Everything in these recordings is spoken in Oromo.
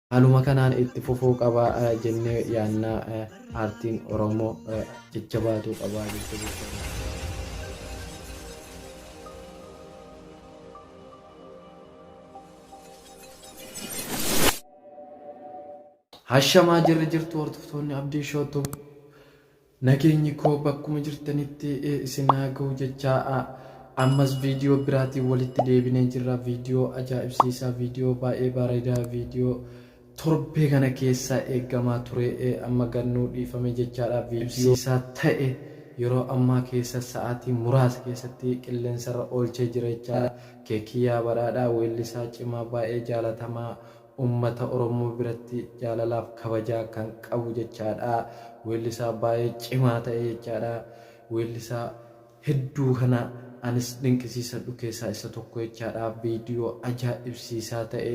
Haaluma kanaan itti fufuu qaba jennee yaadna. Aartiin Oromoo jajjabaatuu qaba jajjabeeffamuu qaba. Hashamaa jirri jirtu hordoftoonni Abdii Show Tube. Nageenyi koo bakkuma jirtanitti isin haa gahu jechaa ammas viidiyoo biraatiin walitti deebinee jirra viidiyoo ajaa'ibsiisaa viidiyoo baay'ee bareedaa viidiyoo torbee kana keessa eeggamaa ture amma gad nuu dhiifame jechaadha viidiyoo ajaa'ibsiisaa ta'e yeroo ammaa keessa sa'aatii muraasa keessatti qilleensarra oolchee jira jechaadha keekiyyaa badhaadhaa weellisaa cimaa baay'ee jaalatamaa Ummata Oromoo biratti jaalalaaf kabajaa kan qabu jechaadha. Weellisaa baay'ee cimaa ta'e jechaadha. Weellisaa hedduu kana anis dinqisiisadhu keessaa isa tokko jechaadha. Viidiyoo ajaa'ibsiisaa ta'e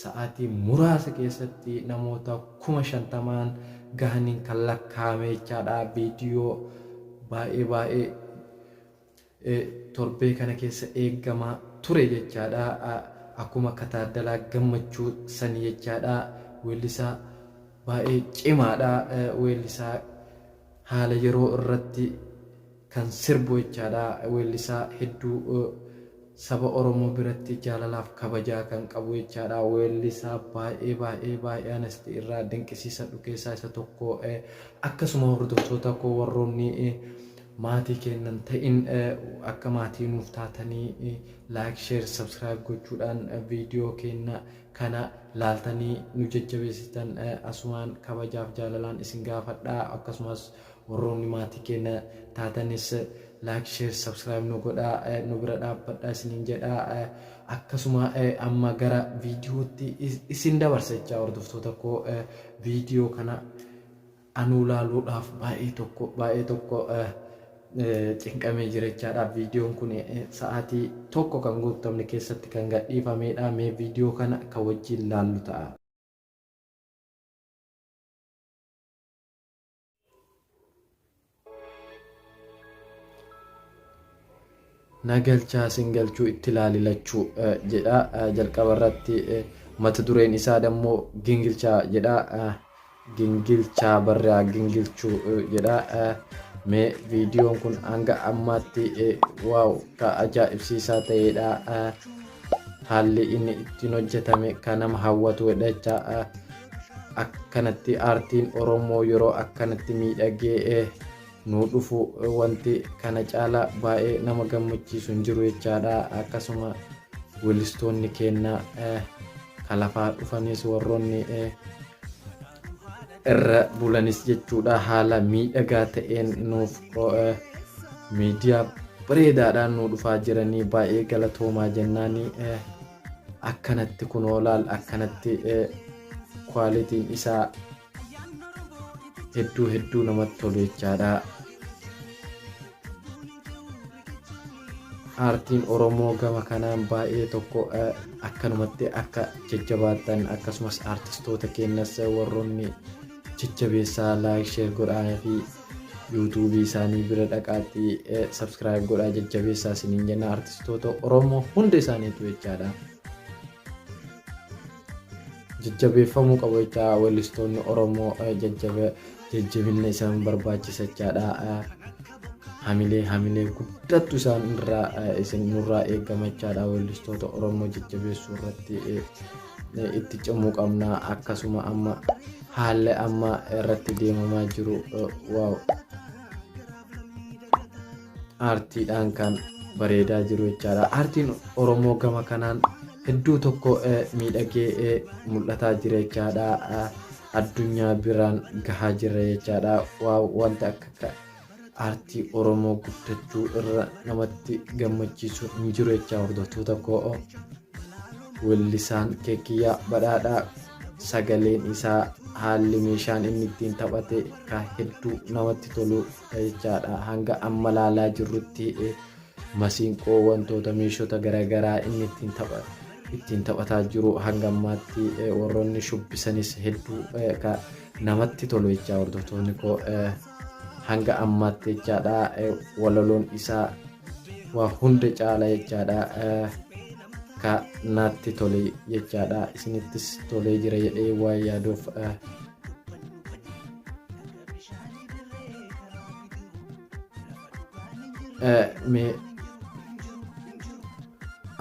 sa'aatii muraasa keessatti namoota kuma shantamaan gahaniin kan lakkaa'ame jechaadha. Viidiyoo baay'ee baay'ee torbee kana keessa eeggamaa ture jechaadha. Akkuma akka Taaddalaa Gammachuu sani jechaadha. Weellisaa baay'ee cimaadha. Weellisaa haala yeroo irratti kan sirbu jechaadha. Weellisaa hedduu saba Oromoo biratti jaalalaaf kabajaa kan qabu jechaadha. Weellisaa baay'ee baay'ee baay'ee anasti irraa dinqisiisadhu keessaa isa tokko. Akkasuma hordoftoota koo warroonni Maatii keenna hin ta'in akka maatii nuuf taatanii like share subscribe gochuudhaan video keenna kana laaltanii nu jajjabeessitan asumaan kabajaaf jaalalaan isin gaafadha akkasumas warroonni maatii keenna taatanis like share subscribe nu godha nu bira dhaabbadha isiniin jedha akkasuma amma gara viidiyootti isin dabarsa jechaa hordoftoota koo viidiyoo kana Anuu laaluudhaaf baay'ee tokko baay'ee tokko cinqamee jira jechaadha. Viidiyoon kun sa'aatii tokko kan guuttamne keessatti kan gadhiifameedha. Mee viidiyoo kana kan wajjin laallu ta'a. na galchaa sin galchuu itti laali lachuu jedha jalqaba irratti mata dureen isaa dammoo gingilchaa jedha gingilchaa barraa gingilchuu jedha mee viidiyoon kun hanga ammaatti waaw ka ajaa'ibsiisaa ta'eedha Haalli inni ittiin hojjetame kan nama hawwatu jedha. Akkanatti aartiin Oromoo yeroo akkanatti miidhagee nuu dhufu wanti kana caalaa baay'ee nama gammachiisu hin jiru jechaadha. Akkasuma weellistoonni keenya kalafaa dhufanis warroonni irra bulanis jechuudha haala miidhagaa ta'een nuuf miidiyaa bareedaadhaan nu dhufaa jiranii baay'ee galatoomaa jennaanii akkanatti kunoo laal akkanatti kwaalitiin isaa hedduu hedduu namatti tolu jechaadha. aartiin Oromoo gama kanaan baay'ee tokko akkanumatti akka jajjabaattan akkasumas aartistoota keenyas warroonni jajjabeessaa laayik sheer godhaa fi yuutuubii isaanii bira dhaqaatii sabskiraayib godhaa jajjabeessaa isiniin jenna aartistoota Oromoo hunda isaaniitu jechaadha. Jajjabeeffamuu qabu jechaa weellistoonni Oromoo jajjabe jajjabinna isaan barbaachisachaadha hamilee hamilee guddattu isaan irraa isin nurraa eegamachaadha weellistoota oromoo jajjabeessuu irratti itti cimuu qabna akkasuma amma haalli amma irratti deemamaa jiru waaw aartiidhaan kan bareedaa jiru jechaadha aartiin oromoo gama kanaan hedduu tokko miidhagee mul'ataa jira jechaadha addunyaa biraan gahaa jirra jechaadha waa wanti akka akka aartii oromoo guddachuu irra namatti gammachiisu hin jiru jechaa hordoftoota koo weellisaan keekiyyaa badhaadhaa sagaleen isaa haalli meeshaan inni ittiin taphate ka hedduu namatti tolu jechaadha hanga amma laalaa jirrutti Masiinqoo wantoota meeshota garagaraa inni ittiin tapha ittiin taphataa jiru hanga ammaatti eh, warroonni shubbisanis hedduu eh, ka namatti tolu jechaa hordoftoonni koo eh, hanga ammaatti jechaadha eh, walaloon isaa waa hunda caala jechaadha eh, ka naatti tole jechaadha isinittis tolee jira jedhee waa yaaduuf eh,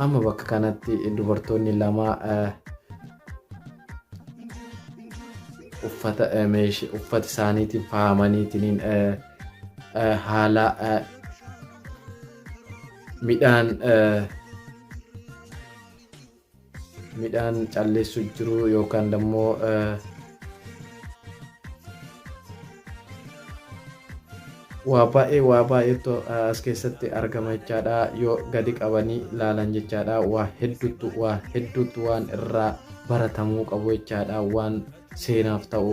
amma bakka kanatti dubartoonni lama uffata uffata isaaniitiin faayamaniitiin haala midhaan midhaan calleessu jiru yookaan dammoo waa baay'ee waa baay'eetu as keessatti argama jechaadha yoo gadi qabanii laalan jechaadha waa hedduutu waa hedduutu waan irraa baratamuu qabu jechaadha waan seenaaf ta'u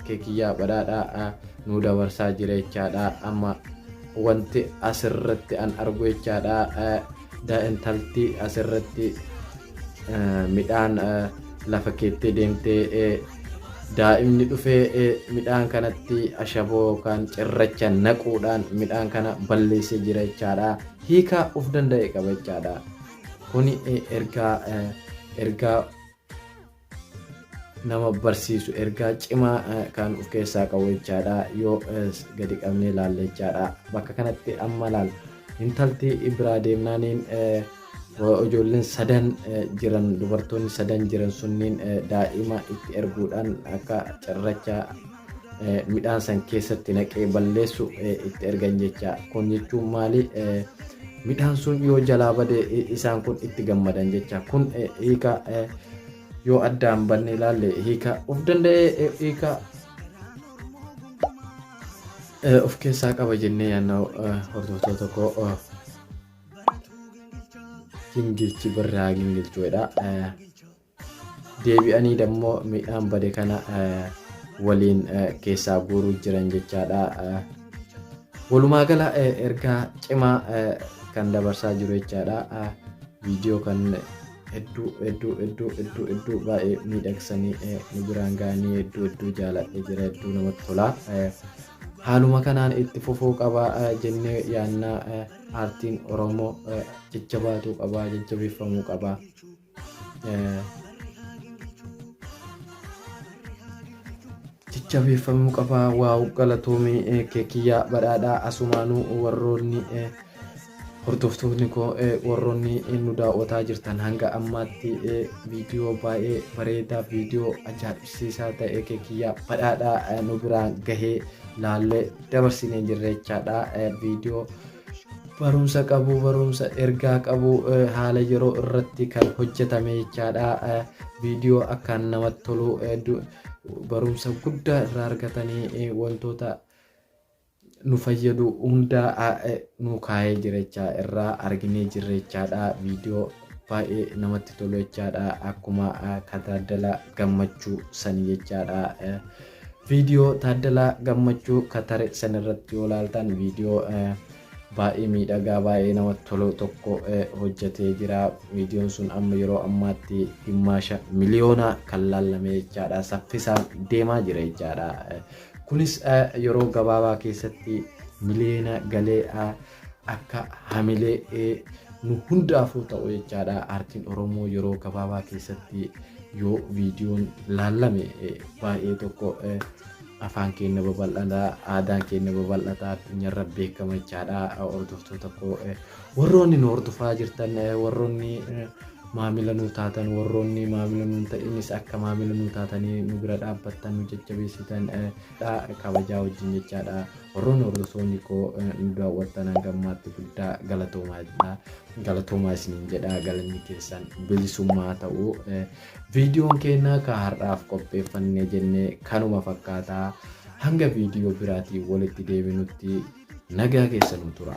kee kiyyaa badhaadhaa nuu dabarsaa jira jechaadha amma wanti asirratti an argu jechaadha daa'intalti asirratti midhaan lafa keettee deemtee daa'imni dhufee midhaan kanatti ashaboo yookaan cirracha naquudhaan midhaan kana balleessee jira jechaadha hiikaa of danda'e qaba jechaadha kuni ergaa ergaa nama barsiisu ergaa cimaa kan of keessaa qabu jechaadha yoo gadi qabnee ilaalle jechaadha bakka kanatti amma laal intalti biraa deemnaaniin ijoolleen sadan jiran dubartoonni sadan jiran sunniin daa'ima itti erguudhaan akka cirracha midhaan san keessatti naqee balleessu itti ergan jecha kun jechuun maali midhaan sun yoo jalaa bade isaan kun itti gammadan jecha kun hiika yoo addaan banne ilaalle hiika of danda'ee hiika of keessaa qaba jennee yaanna hordoftoota tokko gingilchi birraa gingilchuudha. deebi'anii dammo midhaan bade kana waliin keessaa guuruu jiran jechaadha. Walumaa gala ergaa cimaa kan dabarsaa jiru jechaadha. Viidiyoo kan hedduu hedduu hedduu hedduu hedduu baay'ee miidhagsanii nu biraan ga'anii hedduu hedduu jaaladhe jira hedduu namatti tola. Haaluma kanaan itti fufuu qaba jennee yaannaa aartiin Oromoo jajjabaatuu qaba jajjabeeffamuu qaba. jajjabeeffamuu qaba waaw galatoomii eh, kee kiyyaa badhaadhaa asumaanuu warroonni eh, hordoftoonni koo eh, warroonni eh, nu daawwataa jirtan hanga ammaatti eh, viidiyoo baay'ee bareedaa viidiyoo ajaa'ibsiisaa ta'e kee kiyyaa badhaadhaa eh, nu biraan gahee laallee dabarsinee jirra jechaadha eh, viidiyoo barumsa qabu barumsa ergaa qabu haala yeroo irratti kan hojjetame jechaadha viidiyoo akkaan namatti tolu barumsa guddaa irraa argatanii wantoota nu fayyadu hundaa nu kaa'ee jirachaa irraa arginee jirrechaadha viidiyoo baay'ee namatti tolu jechaadha akkuma kataadala gammachuu sanii jechaadha Video Taaddalaa Gammachuu ka tare san irratti yoo laaltan video baay'ee miidhagaa baay'ee namatti tolu tokko hojjetee jira. Viidiyoon sun amma yeroo ammaatti gimmaasha miliyoona kan laallamee jechaadha. Saffisaan deemaa jira jechaadha. Kunis yeroo gabaabaa keessatti miliyoona galee akka hamilee ee, nu hundaafuu ta'u jechaadha aartiin oromoo yeroo gabaabaa keessatti yoo viidiyoon laallame ee, baay'ee tokko ee, afaan keenya babal'ata aadaan keenya babal'ata addunyaarra beekama jechaadha hordoftoota koo ee, warroonni nu hordofaa jirtan ee, warroonni ee, maamila nu taatan warroonni maamila nu hin ta'inis akka maamila nu taatanii nu bira dhaabbattan nu jajjabeessitan ee, dha kabajaa wajjin jechaadha warroonni hordoftoonni koo nu daawwattan hanga ammaatti guddaa galatoomaa jedha galatoomaa isiniin jedha galanni keessan bilisummaa ta'u viidiyoon keenya ka har'aaf qopheeffanne jenne kanuma fakkaata hanga viidiyoo biraatiin walitti deebinutti nagaa keessan nu tura.